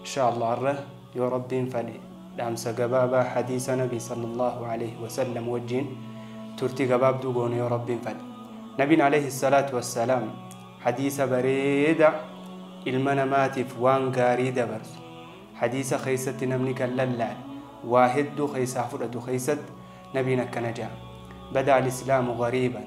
Inshaallaa har'a yoo Rabbiin fadhe dhaamsa gabaabaa hadiisa Nabii sallallahu aleyhi wasallam wajjiin turtii gabaabduu goona yoo Rabbiin fadhe. Nabiin aleyhi salaatu wassalaam hadiisa bareeda ilma namaatiif waan gaarii dabarsu hadiisa keessatti namni kan lallaale waa hedduu keessaa fudhatu keessatti nabiin akkana jedha. Bada al-islaamu gariiban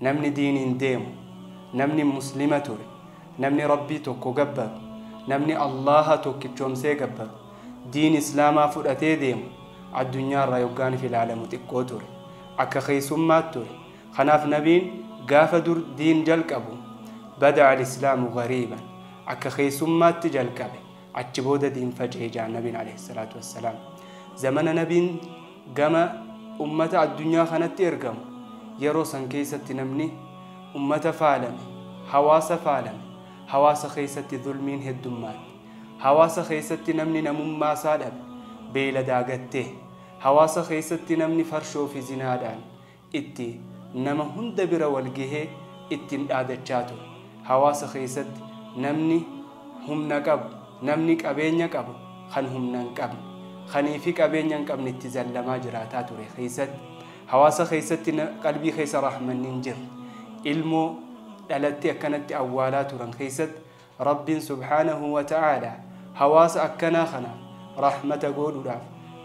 Namni diiniin deemu, namni muslima ture, namni Rabbii tokko gabbaru, namni Allaaha tokkichoomsee gabbaru, diin Islaamaa fudhatee deemu addunyaarraa yoggaaniif ilaalamu xiqqoo ture. Akka keessummaat ture. Kanaaf Nabiin gaafa dur diin jalqabu, Bada'a al-Islaamu ghariiban, akka keessummaatti jalqabe. Achi booda diin faca'e ja'an Nabiin alayhi salaatu wassalaam. Zamana Nabiin gama ummata addunyaa kanatti ergamu yeroo san keessatti namni ummata faalame, hawaasa faalame, hawaasa keessatti zulmiin heddummaatte, hawaasa keessatti namni namummaa isaa dhabe, beeyladaa gattee, hawaasa keessatti namni farshoo fi zinaadhaan itti nama hunda bira wal gahee ittin dhaadachaa ture. Hawaasa keessatti namni humna qabu, namni qabeenya qabu kan humna hin qabne, kanii fi qabeenya hin qabne itti zallamaa jiraataa ture keessatti hawaasa keessatti qalbii keessa rahmanni hin jirre ilmoo dhalattee akkanatti awwaalaa turan keessatti Rabbiin subhaanahu wa ta'aalaa hawaasa akkanaa kanaaf rahmata goodhuudhaaf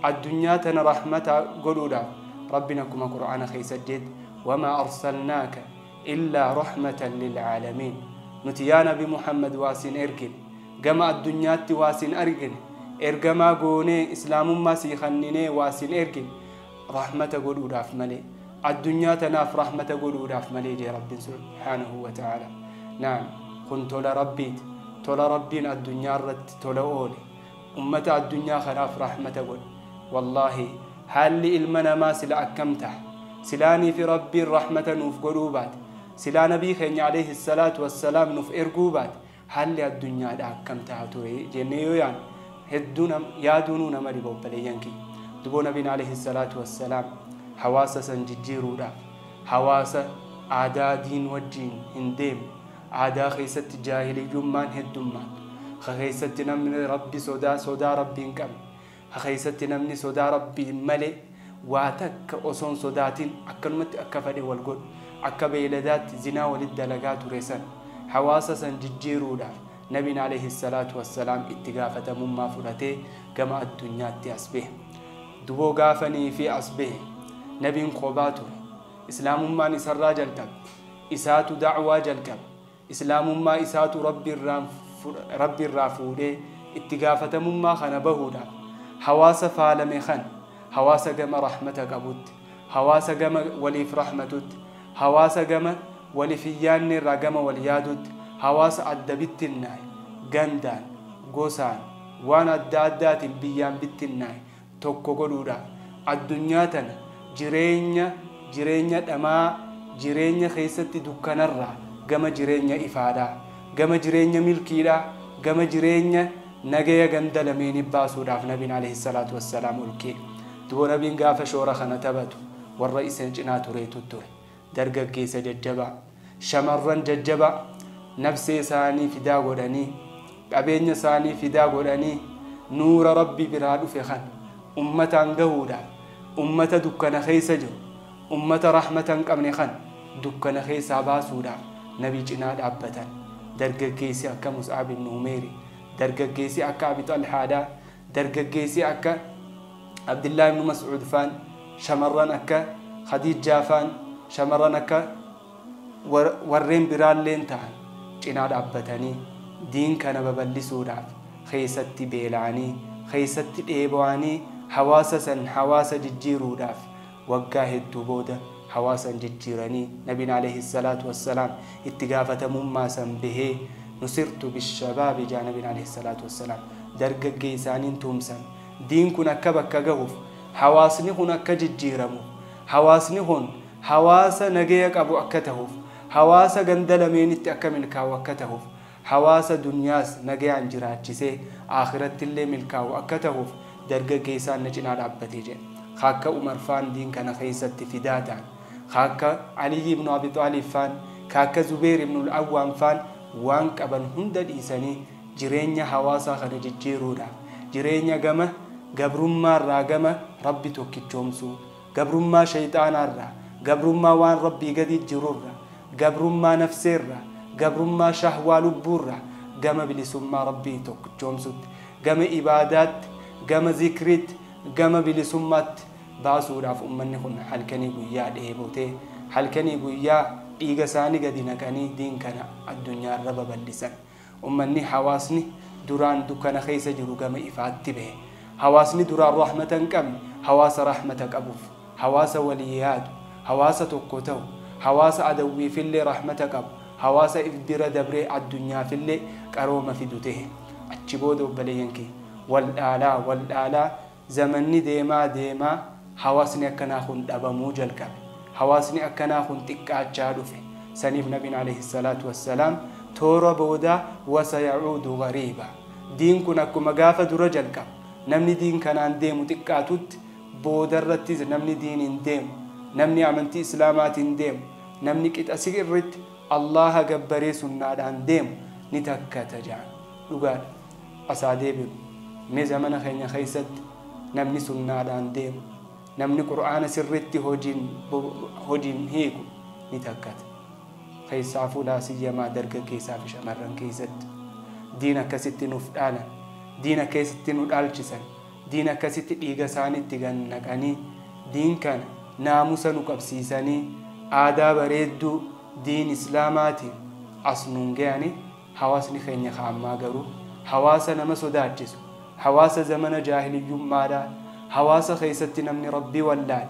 addunyaa tana rahmata godhuudhaaf Rabbiin akkuma Qur'aana keessatti jeetti wamaa arsalnaaka illaa rahmatan lil'aalamiin nuti yaa nabi Muhammad waa siin ergine gama addunyaatti waa siin argine ergamaa goonee islaamummaa sii kanninee waa siin ergine rahmata godhuudhaaf malee addunyaa tanaaf rahmata godhuudhaaf malee jee rabbin subhaanahu wa ta'ala naam kun tola rabbiiti tola rabbiin addunyaa irratti tola oole ummata addunyaa kanaaf rahmata godhe wallaahi haalli ilma namaa sila akkam taha silaanii fi rabbiin rahmata nuuf godhuu baate silaa nabii keenya alayhi salaatu wassalaam nuuf erguu baate Haalli addunyaadhaa akkam taha ture jennee yoo yaadnu hedduu yaaduunuu nama dhiba obboleeyyan kiyya. Duboo Nabiin alayhi salaatu wassalaam hawaasa san jijjiiruudhaaf hawaasa aadaa diin wajjiin hin deemne, aadaa keessatti jaahiliyyummaan heddummaatu, ka keessatti namni Rabbi sodaa sodaa Rabbii hin qabne, a keessatti namni sodaa Rabbiin malee waa takka osoo hin sodaatin akkanumatti akka fadhe wal godhu, akka beeyladaatti zinaa walitti dalagaa ture san, hawaasa san jijjiiruudhaaf Nabiin aleyhi salaatu wa salaam itti gaafatamummaa fudhatee gama addunyaatti as bahe. Duboo gaafa nii fi as bahe Nabiin qobaa ture. Islaamummaan isarraa jalqabe. Isaatu da'waa jalqabe. Islaamummaa isaatu Rabbi irraa fuudhee itti gaafatamummaa kana bahuudhaaf hawaasa faalame kana hawaasa gama rahmata qabutti, hawaasa gama waliif rahmatutti, hawaasa gama waliif hin yaanne irraa gama wal yaadutti, hawaasa adda bittinnaa'e, gandaan, gosaan, waan adda addaatiin biyyaan bittinnaa'e, tokko godhuudha. Addunyaa tana jireenya jireenya dhamaa jireenya keessatti dukkanarraa gama jireenya ifaadhaa, gama jireenya milkiidhaa, gama jireenya nagaya ganda lameeni baasuudhaaf Nabiin Aleeyhi salaatu wassalaam olkee. Dubo Nabiin gaafa shoora kana tabatu warra isan cinaa tureetu ture. dargaggeessa jajjabaa, shamarran jajjabaa nabsee isaanii fidaa godhanii, qabeenya isaanii fidaa godhanii nuura Rabbi biraa dhufe kana ummataan gahuudhaaf, ummata dukkana keessa jiru, ummata rahmata hin qabne kana dukkana keessaa baasuudhaaf Nabi cinaa dhaabbatan. Dargaggeessi akka Mus'ab ibn Umeeri, dargaggeessi akka Abi Xalhaadhaa, Dargaggeessi akka Abdillaah ibnu Mas'uud faan, shamarran akka Khadiijjaa faan, shamarran akka warreen biraalleen tahan cinaa dhaabbatanii diin kana babal'isuudhaaf keessatti beela'anii, keessatti dheebo'anii hawaasa san hawaasa jijjiiruudhaaf Waggaa hedduu booda hawaasan jijjiiranii Nabiin Aleeyhi salaatu wassalaam itti gaafatamummaa san bahee Nusirtu bishabaabi ja'a Nabiin Aleeyhi salaatu wassalaam dargaggeeysaaniin tuumsan diin kun akka bakka gahuuf hawaasni kun akka jijjiiramu hawaasni kun hawaasa nagaya qabu akka tahuuf hawaasa ganda lameenitti akka milkaawu akka tahuuf hawaasa dunyaas nagayaan jiraachisee aakhirattillee milkaawu akka tahuuf dargaggeessaan na cinaa dhaabbate jedhe. Ka akka Umar faan diin kana keessatti fidaa tahan. Ka akka Aliyyi ibnu Abi Xaalib faan, ka akka Zubeyr ibnul Awwaam faan waan qaban hunda dhiisanii jireenya hawaasaa kana jijjiiruudhaaf, jireenya gama gabrummaarraa gama Rabbi tokkichoomsuu, Gabrummaa sheyxaanaarraa, gabrummaa waan Rabbii gadii jirurra, gabrummaa nafseerra, gabrummaa shahwaa lubbuurra, gama bilisummaa Rabbii tokkichoomsutti, gama ibaadaatti, gama zikriitti, gama bilisummaatti baasuudhaaf ummanni kun halkanii guyyaa dheebotee, halkanii guyyaa dhiigasaanii gadi naqanii diin kana addunyaarra babal'isan. Ummanni, hawaasni, duraan dukkana keessa jiru gama ifaatti bahe. Hawaasni duraan rahmata hin qabne hawaasa rahmata qabuuf, hawaasa walii yaadu, hawaasa tokko tahu, hawaasa adawwiifillee rahmata qabu, hawaasa if bira dabree addunyaafillee qarooma fidu tahe. Achi booda obboleeyyan kiyya! Wal dhaalaa, wal dhaalaa, Zamanni deemaa deemaa hawaasni akkanaa kun dhabamuu jalqabe. Hawaasni akkanaa kun xiqqaachaa dhufe. Saniif Nabiin aleyhi salaatu wassalaam toora boodaa wasayacuudu gariiba. Diin kun akkuma gaafa dura jalqabu, namni diin kanaan deemu xiqqaatutti, boodarrattis namni diiniin deemu, namni amantii Islaamaatiin deemu, namni qixa si'rritti Allaaha gabbaree sunnaadhaan deemu ni takkata ja'an. Dhugaadha. as haa deebinu. Mee zamana keenya keessatti namni sunnaadhaan deemu, namni Qur'aana sirriitti hojiin hojiin hiiku ni takkata. Keessaafuu laa siyyamaa dargaggeessaa fi shamarran keessatti. Diin akkasitti nuuf dhaalan, diin akkasitti nu dhaalchisan, diin akkasitti dhiiga isaaniitti gad naqanii, diin kana naamusa nu qabsiisanii, aadaa bareedduu diin Islaamaatiin as nuun gayanii. Hawaasni keenya ka ammaa garuu hawaasa nama sodaachisu, hawaasa zamana jaahiliyyummaadhaa, hawaasa keessatti namni Rabbi wallaale,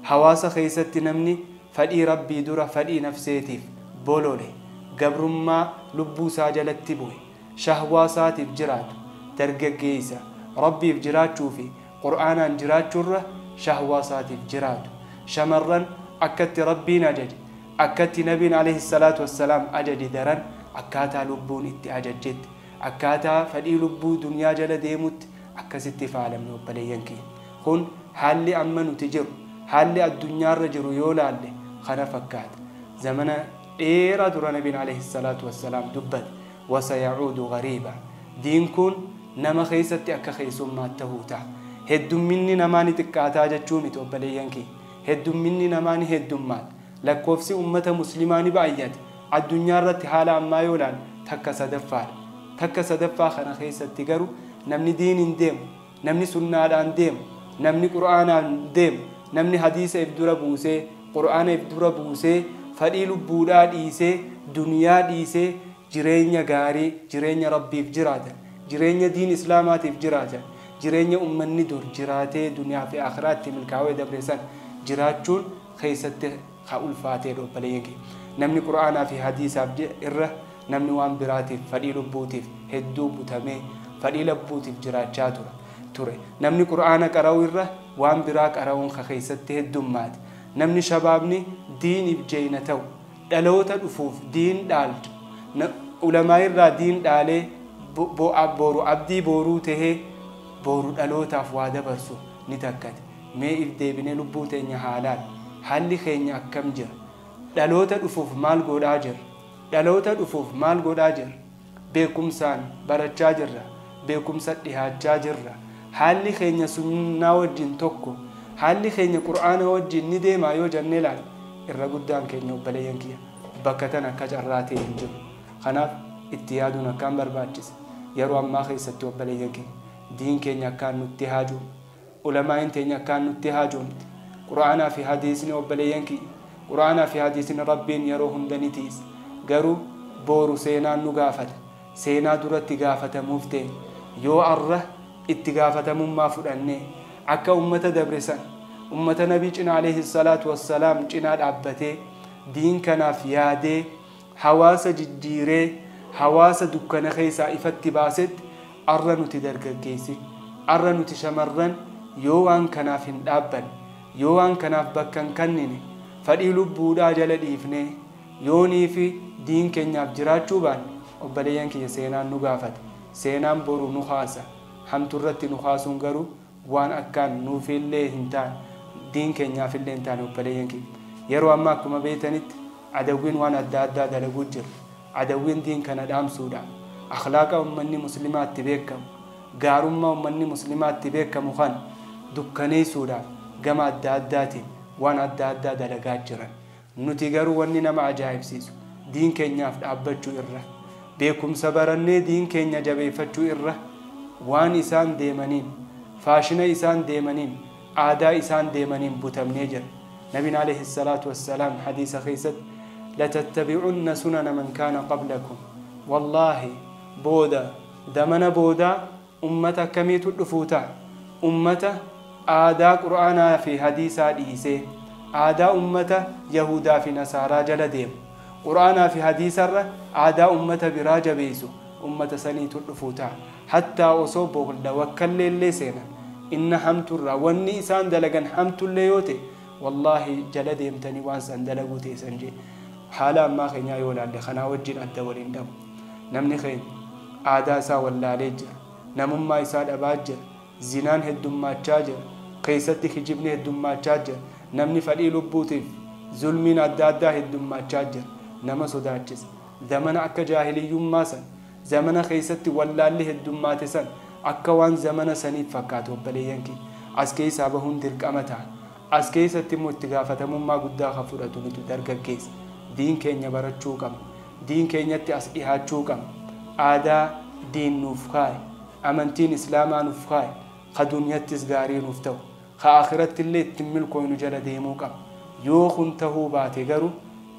hawaasa keessatti namni fadhii Rabbii dura fadhii nafseetiif bolole, gabrummaa lubbuu isaa jalatti bu'e, shahwaa isaatiif jiraatu, dargaggeessa Rabbiif jiraachuu fi Qur'aanaan jiraachurra shahwaa isaatiif jiraatu, shamarran akkatti Rabbiin ajaje, Akkatti Nabiin Aleyhi salaatu wassalaam ajaje daran akkaataa lubbuun itti ajajjetti, akkaataa fadhii lubbuu dunyaa jala deemutti akkasitti faalamne obboleeyyan kiyya. Kun haalli amma nuti jiru, haalli addunyaarra jiru yoo laalle kana fakkaata. Zamana dheeraa dura Nabiin Aleyhi salaatu wassalaam dubbate, Wasaya'uudu ghariiba, Diin kun nama keessatti akka keessummaatti tahuu taha. Heddumminni namaa ni xiqqaataa jechuu miti obboleeyyan kiyya. Heddumminni namaa ni heddummaata. Lakkoofsi ummata muslimaa ni baay'ata. Addunyaa irratti haala ammaa yoo ilaallu takka sadaffaadha. Takka sadaffaa kana keessatti garuu namni diiniin deemu, namni sunnaadhaan deemu, namni qur'aanaan deemu, namni hadiisa if dura buusee, qur'aana if dura buusee, fadhii lubbuudhaa dhiisee, duniyaa dhiisee, jireenya gaarii, jireenya Rabbiif jiraatan, jireenya diin Islaamaatiif jiraatan, jireenya ummanni dur jiraatee duniyaa fi aakhiraa itti milkaawee dabre san jiraachuun keessatti ka ulfaateedha obboleeyyan kiyya. Namni Qur'aanaa fi Hadiisaaf je'e irra namni waan biraatiif, fadhii lubbuutiif hedduu butamee, fadhii labbuutiif jiraachaa tura, ture. Namni Qur'aana qara'uu irra waan biraa qara'uun ka keessatti heddummaate. Namni shabaabni diiniif jeeyna ta'u, dhaloota dhufuuf diin dhaaltu, na, ulamaa irraa diin dhaalee bo, bo, a, boru abdii booruu tahee boru dhalootaaf waa dabarsu ni takkate. Mee if deebinee lubbuu teenya haa laallu. Haalli keenya akkam jira? Dhaloota dhufuuf maal goodhaa jirra? Dhaloota dhufuuf maal godhaa jirra? Beekumsaan barachaa jirra. Beekumsa dhihaachaa jirra. Haalli keenya sunnaa wajjiin tokko. Haalli keenya qur'aana wajjiin ni deemaa yoo jannee laalle irra guddaan keenya obboleeyyan kiyya bakka tana akka carraa ta'e hin jiru. Kanaaf itti yaaduun akkaan barbaachisa. Yeroo ammaa keessatti obboleeyyan kiyya diin keenya akkaan nutti haaju. Ulamaa'iin teenya akkaan nutti haajoomti. Qur'aanaa fi hadiisni obboleeyyan kiyya, Qur'aanaa fi hadiisni Rabbiin yeroo hunda ni tiiysa. Garuu booru seenaan nu gaafata. Seenaa duratti gaafatamuuf teenya. Yoo arra itti gaafatamummaa fudhanne, akka ummata dabre san, ummata Nabii cinaa, aleyhi salaatu wa salaam, cinaa dhaabbatee, diin kanaaf yaadee, hawaasa jijjiiree hawaasa dukkana keessaa ifatti baasetti arra nuti dargaggeessi, arra nuti shamarran yoo waan kanaaf hin dhaabbanne, yoo waan kanaaf bakka hin kannine, fadhii lubbuudhaa jala dhiifnee yoonii fi diin keenyaaf jiraachuu baanne obboleeyyan kiyya seenaan nu gaafata, seenaan boru nu kaasa, hamtu irratti nu kaasuun garuu waan akkaan nuufiillee hin taane, diin keenyaafillee hin taane obboleeyyan kiyya. Yeroo ammaa akkuma beeytanitti adawwiin waan adda addaa dalaguu jira. Adawwiin diin kana dhaamsuudhaan, akhlaaqa ummanni muslimaa itti beekkamu, gaarummaa ummanni muslimaa itti beekkamu kana dukkaneeysuudhaaf gama adda addaatiin waan adda addaa dalagaa jiran. Nuti garuu wanni nama ajaa'ibsiisu, diin keenyaaf dhaabbachuu irra, beekumsa barannee diin keenya jabeeffachuu irra, waan isaan deemaniin, faashina isaan deemaniin, aadaa isaan deemaniin butamnee jirra. Nabiin aleeyhi salaatu wassalaam hadiisa keessatti, latattabi'unna sunana man kaana qablakum, wallaahi, booda, zamana boodaa, Ummata akkamiitu dhufuu ta'a? Ummata aadaa Qur'aanaa fi Hadiisaa dhiisee, aadaa ummata Yahuudaa fi Nasaaraa jala deemu. Qur'aanaa fi Hadiisarra aadaa ummata biraa jabeessu, ummata saniitu dhufuu ta'a. Hattaa osoo boolla wakkalleellee seenan, inna hamturraa, wanni isaan dalagan hamtullee yoo ta'e, wallaahi jala deemtanii waan san dalaguu teessan je'e. Haala ammaa keenyaa yoo laalle, kanaa wajjiin adda wal hin dhabu. Namni keenya aadaa isaa wallaalee jira. Namummaa isaa dhabaa jira. Zinaan heddummaachaa jira. Keessatti kijibni heddummaachaa jira. Namni fadhii lubbuutiif zulmiin adda addaa heddummaachaa jira. Nama sodaachisa. Zamana akka jaahiliyyummaa san, zamana keessatti wallaalli heddummaate san akka waan zamana saniit fakkaatu obboleeyyan kiyya. As keessaa bahuun dirqama taha. As keessatti immoo itti gaafatamummaa guddaa ka fudhatu nutu dargaggeessa. Diin keenya barachuu qabna. Diin keenyatti as dhihaachuu qabna. Aadaa diin nuuf kaaye, amantiin islaamaa nuf kaaye, ka dunyattis gaarii nuuf tahu, ka aakhirattillee ittin milkooynu jala deemuu qabna. Yoo kun tahuu baate garuu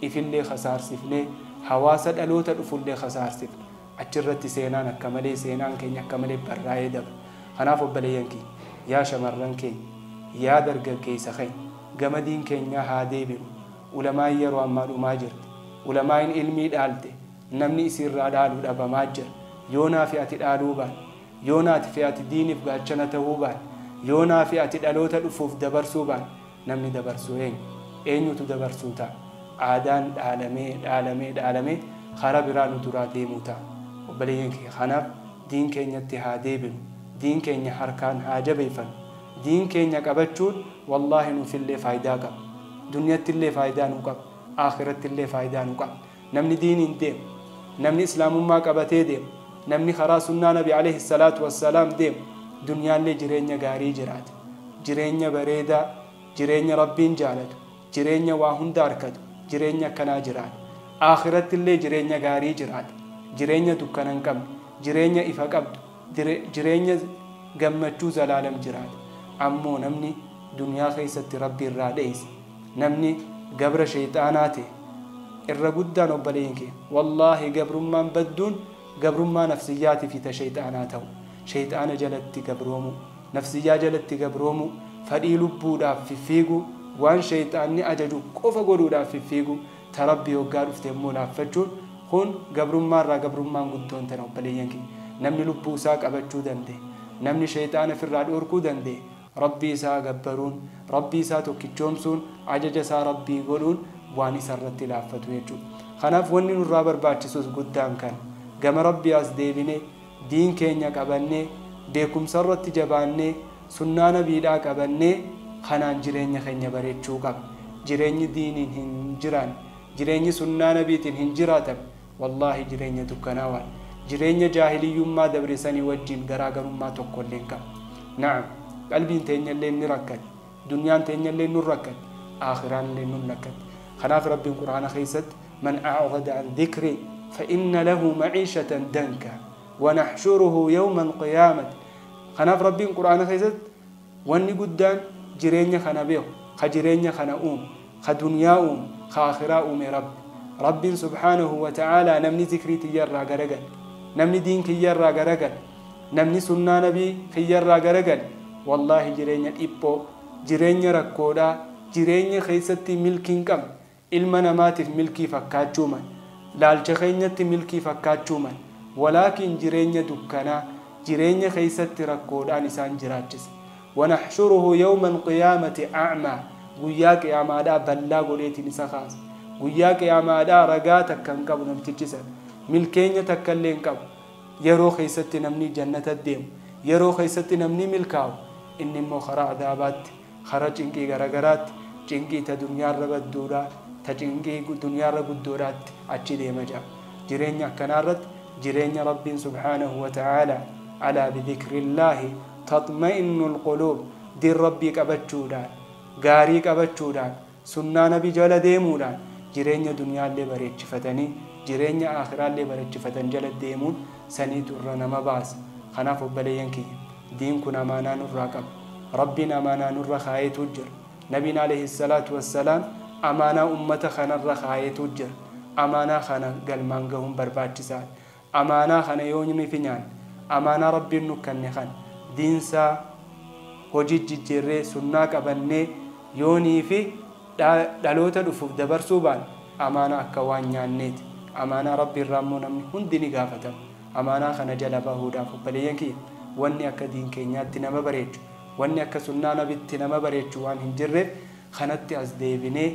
ifillee khasaarsifnee, hawaasa dhaloota dhufullee khasaarsifna. Achirratti seenaan akka malee, seenaan keenya akka malee barraayee dabra. Kanaaf obboleeyyan kiyya, yaa shamarran keenya, yaa dargaggeeysa keenya, gama diin keenyaa haa deebinu, Ulamaain yaroo ammaa dhumaa jirti. Ulamaain ilmii dhaalte namni isii irraa dhaalu dhabamaa jira. Yoo naa fi ati dhaaluu baane, yoo naati fi ati diinif gaachana tahuu baane, yoo naa fi ati dhaloota dhufuuf dabarsuu baane, namni dabarsu eenyu? Eenyutu dabarsuu ta'a? Aadaan dhaalamee, dhaalamee, dhaalamee karaa biraa nu duraa deemuu ta'a. Obboleeyyan kiyya kanaaf diin keenyatti haa deebinu. Diin keenya harkaan haa jabeeyfannu. Diin keenya qabachuun Wallaahi nuufillee faaydaa qaba. Dunyattillee faaydaa nuu qaba. Aakhirattillee faaydaa nuu qaba. Namni diiniin deemu, namni Islaamummaa qabatee deemu, namni karaa sunnaa Nabi aleyhi salaatu wassalaam deemu, dunyaallee jireenya gaarii jiraata. Jireenya bareedaa, jireenya Rabbiin jaalatu, jireenya waa hunda arkatu, jireenya akkanaa jiraata. Aakhirattillee jireenya gaarii jiraata. Jireenya dukkana hin qabne, jireenya ifa qabdu. dire, jireenya gammachuu zalaalam jiraata. Ammoo namni duniyaa keessatti Rabbi irraa dheeyse, namni gabra sheyxaanaa tahe, irra guddaan obboleeyyan kiyya, wallaahi gabrummaan badduun gabrummaa nafsiyyaatii fi ta sheyxaanaa tahu, sheyxaana jalatti gabroomuu, nafsiyyaa jalatti gabroomuu, fadhii lubbuudhaaf fiffiiguu, waan sheyxaanni ajaju qofa godhuudhaaf fiffiiguu, Ta Rabbii hoggaa dhufte immoo laaffachuun Kun gabrummaa irraa gabrummaan guddoon tana obboleeyyan kiyya. Namni lubbuu isaa qabachuu danda'e, namni sheyxaana ifirraa dhoorkuu danda'e Rabbii isaa gabbaruun, Rabbii isaa tokkichoomsuun, ajaja isaa Rabbii godhuun waan isa irratti laaffatu jechuudha. Kanaaf wanni nurraa barbaachisus guddaan kana. Gama Rabbii as deebinee. diin keenya qabannee, beekumsarratti jabaannee, sunnaa nabiidhaa qabannee kanaan jireenya keenya bareechuu qabna. Jireenyi diiniin hin jiraanne, jireenyi sunnaa nabiitiin hin jiraatan wallaahi jireenya dukkanaawaadha. Jireenya jaahiliyyummaa dabre sanii wajjiin garaagarummaa tokkollee hin qabu. Na'am, qalbiin teenyalleen ni rakkati. Dunyaan teenyalleen nun rakkatti, aakhiraanilleen nun lakkatti. Kanaaf Rabbiin Qur'aana keessatti Man a'rada an dhikrii fa inna lahu ma'iishatan dankaa wa nahshuruhu yawma al-qiyaamati Kanaaf Rabbiin Qur'aana keessatti wanni guddaan jireenya kana beeku, ka jireenya kana uume, ka dunyaa uume, ka aakhiraa uume Rabbi. Rabbiin subhaanahu wa ta'aalaa namni zikrii tiyya irraa garagale, namni diin kiyya irraa garagale, Namni sunnaa nabii kiyyarraa garagale wallaahi jireenya dhiphoo, jireenya rakkoodhaa, jireenya keessatti milkii hin qabne, ilma namaatiif milkii fakkaachuu mal, laalcha keenyatti milkii fakkaachuu mal, walaakiin jireenya dukkanaa, jireenya keessatti rakkoodhaan isaan jiraachisa. Wanaxshuruhu yawma alqiyaamati a'maa Guyyaa qiyaamaadhaa ballaa godheetiin isa kaasa. Guyyaa qiyaamaadhaa ragaa takka hin qabu namtichi san. Milkeenya takkallee hin qabu. Yeroo keessatti namni jannata deemu, yeroo keessatti namni milkaawu, inni immoo karaa adaabaatti, karaa cinqii garagaraatti, cinqii ta dunyaarra badduudhaa, ta cinqii dunyaarra guddoodhaatti achi deema jedha. Jireenya akkanaarratti jireenya Rabbiin subhaanahu wa ta'aalaa, Alaa bidhikrillaahi taxma'innul quluub, diin Rabbii qabachuudhaan, gaarii qabachuudhaan, Sunnaa Nabi jala deemuudhaan jireenya duniyaallee bareechifatanii jireenya aakhiraallee barechifatan jala deemuun saniitu irra nama baasa. Kanaaf obboleeyyan kiyya diin kun amaanaa nurraa qaba. Rabbiin amaanaa nurra kaayeetu jira. Nabiin aleyhi salaatu wassalaam amaanaa ummata kanarra kaayeetu jira. Amaanaa kana galmaan gahuun barbaachisaadha. Amaanaa kana yoonynu fi nyaanne. Amaanaa Rabbiin nu kanne kan diinsaa hojiit jijjiirree sunnaa qabannee yoonii fi dha dhaloota dhufuuf dabarsuu baanne amaanaa akka waan nyaanneeti. Amaanaa Rabbii irraa immoo namni hundi ni gaafatama. Amaanaa kana jala bahuudhaaf obboleeyyan kiyya wanni akka diin keenyaatti nama bareechu, wanni akka sunnaa nabitti nama bareechu waan hin jirreef, kanatti as deebinee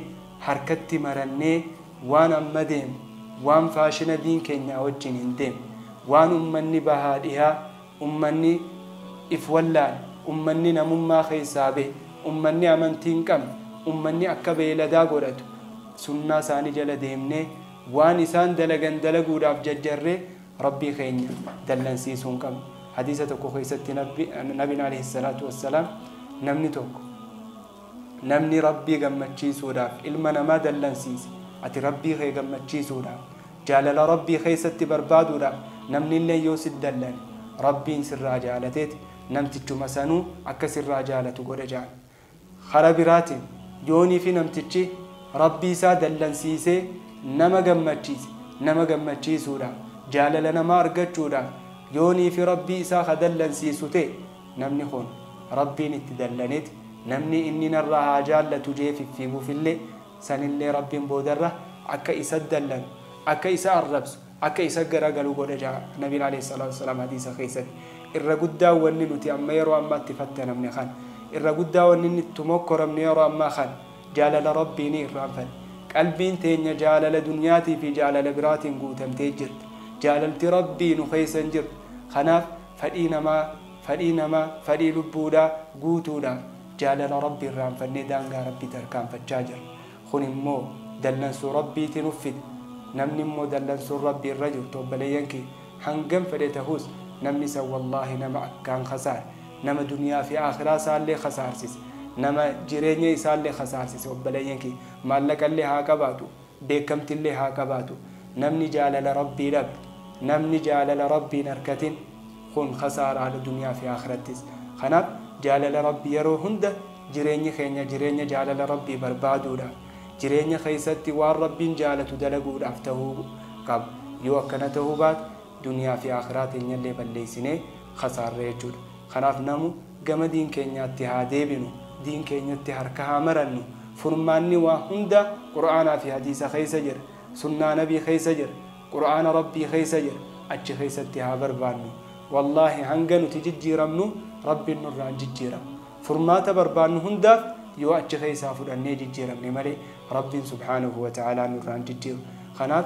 harkatti marannee waan amma deemu, waan faashina diin keenyaa wajjin hin deemne, waan ummanni bahaa dhihaa, ummanni if wallaale, ummanni namummaa keessaa bahe, ummanni amantii hin qabne, ummanni akka beeyladaa godhatu sunnaa isaanii jala deemnee waan isaan dalagan dalaguudhaaf jarjarree Rabbii keenya dallansiisuu hin qabnu. Hadiisa tokko keessatti Nabiin, Alayhis-salaatu was-salaam, namni tokko. Namni Rabbii gammachiisuudhaaf ilma namaa dallansiise, ati Rabbii kee gammachiisuudhaaf, jaalala Rabbii keessatti barbaaduudhaaf namnilleen yoo sit dallane, Rabbiin sirraa jaalateeti namtichuma sanuu akka sirraa jaalatu godha jedhan. Kara biraatiin, yoo nifi namtichi Rabbii isaa dallansiisee nama gammachiise, nama gammachiisuudhaaf, jaalala namaa argachuudhaaf, yoo nifi Rabbii isaa ka dallansiisu ta'e, Namni kun Rabbiin itti dallaneti, namni inni narraa haa jaallatu je'ee fiffiigufillee, sanillee Rabbiin boodarra akka isatti dallanu, akka isa arrabsu, akka isatti garagalu godha ja'a Nabiin aleyh salaatu wassalaam hadiisa keessatti. Irra guddaan wanni nuti amma yeroo ammaa itti fattanamne kana. Irra guddaa wanni inni itti mokkoramnu yeroo ammaa kana, jaalala Rabbiinii irraanfanne. Qalbiin teenya jaalala dunyaatii fi jaalala biraatiin guutamtee jirti. Jaalalti Rabbii nu keessa hin jirtu. Kanaaf. Fadhii namaa, fadhii nama, fadhii lubbuudhaa, guutuudhaaf jaalala Rabbi irraanfannee daangaa Rabbii tarkaanfachaa jirra. Kun immoo dallansuu Rabbiiti nuf fida. Namni immoo dallansuun Rabbi irra jirtu obboleeyyan kiyya hangam fedhe tahuus namni san wallaahi nama akkaan khasaare, nama duniyaa fi aakhiraa isaallee khasaarsise, nama jireenya isaallee khasaarsise obboleeyyan kiyya. Maallaqa illee haa qabaatu, beekkamtillee haa qabaatu namni jaalala Rabbii dhabe namni jaalala Rabbii hin arkatin kun khasaaraadha duniyaa fi aakhirattis kanaaf jaalala Rabbii yeroo hunda jireenyi keenya jireenya jaalala Rabbii barbaaduudhaaf jireenya keessatti waan Rabbiin jaalatu dalaguudhaaf tahuu qaba yoo akkana tahuu baate duniyaa fi aakhiraa teenyallee balleessinee khasaarre jechuudha. Kanaaf namu gama diin keenyaatti haa deebinu, diin keenyatti harka haa marannu. Furmaanni waa hundaa Qur'aanaa fi Hadiisa keessa jira. Sunnaa Nabii keessa jira. Qur'aana Rabbii keessa jira. Achi keessatti haa barbaannu. Wallaahi hanga nuti jijjiiramnu Rabbiin nurraa hin jijjiiramu. Furmaata barbaannu hundaaf yoo achi keessaa fudhannee jijjiiramne malee Rabbiin subhaanahu wa ta'aalaa nurraa hin jijjiiru. Kanaaf